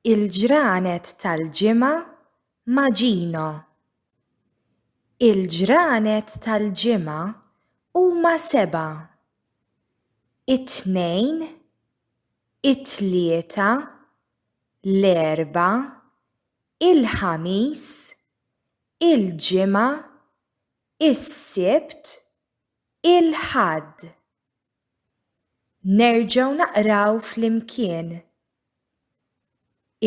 Il-ġranet tal-ġimgħa ma' Gino. Il-ġranet tal-ġimgħa huma sebgħa, it-Tnejn, it-Tlieta, l-Erbgħa, il-Ħamis, il-Ġimgħa, is-Sibt, il-Ħadd. Nerġgħu naqraw flimkien.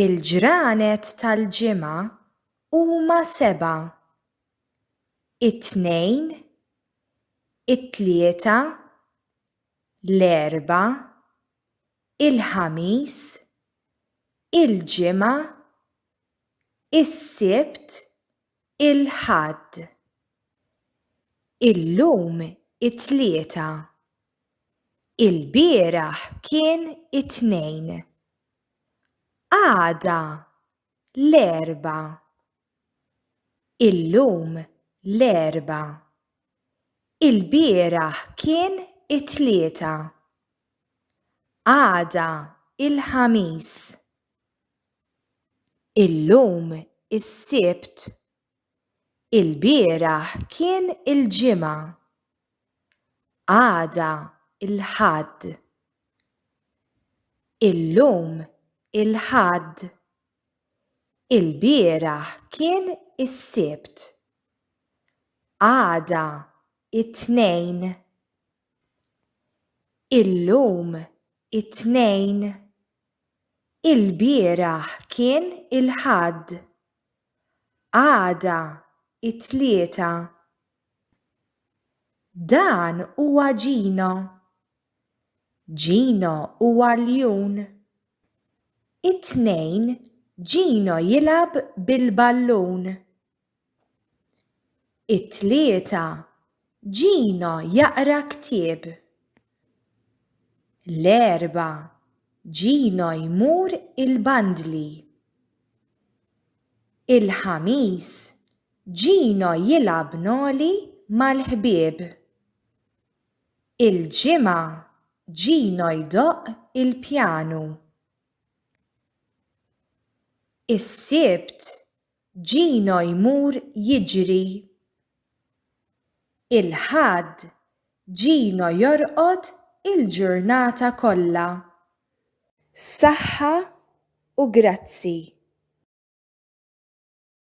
Il-ġranet tal-ġimgħa huma sebgħa, it-Tnejn, it-Tlieta, l-Erbgħa, il-Ħamis, il-Ġimgħa, is-Sibt, il-Ħadd. Illum it-Tlieta. Ilbieraħ kien it-Tnejn. Għada l-Erbgħa. Illum l-Erbgħa. Ilbieraħ kien it-Tlieta. Għada il-Ħamis. Illum is-Sibt, ilbieraħ kien il-Ġimgħa, għada l-Ħadd. Illum il-Ħadd, ilbieraħ kien is-Sibt, għada t-Tnejn. Illum it-Tnejn, Ilbieraħ kien il-Ħadd. Għada it-Tlieta. Dan huwa Gino. Gino hu għaljun. It-Tnejn Gino jilgħab bil-ballun. It-Tlieta, Gino jaqra ktieb. L-Erbgħa, Gino jmur il-bandli. Il-Ħamis, Gino jilgħab noli mal-ħbieb. Il-Ġimgħa, Gino jdoqq il-pjanu. Is-Sibt, Gino jmur jiġri. Il-Ħadd, Gino jorqod il-ġurnata kollha. Saħħa u grazzi.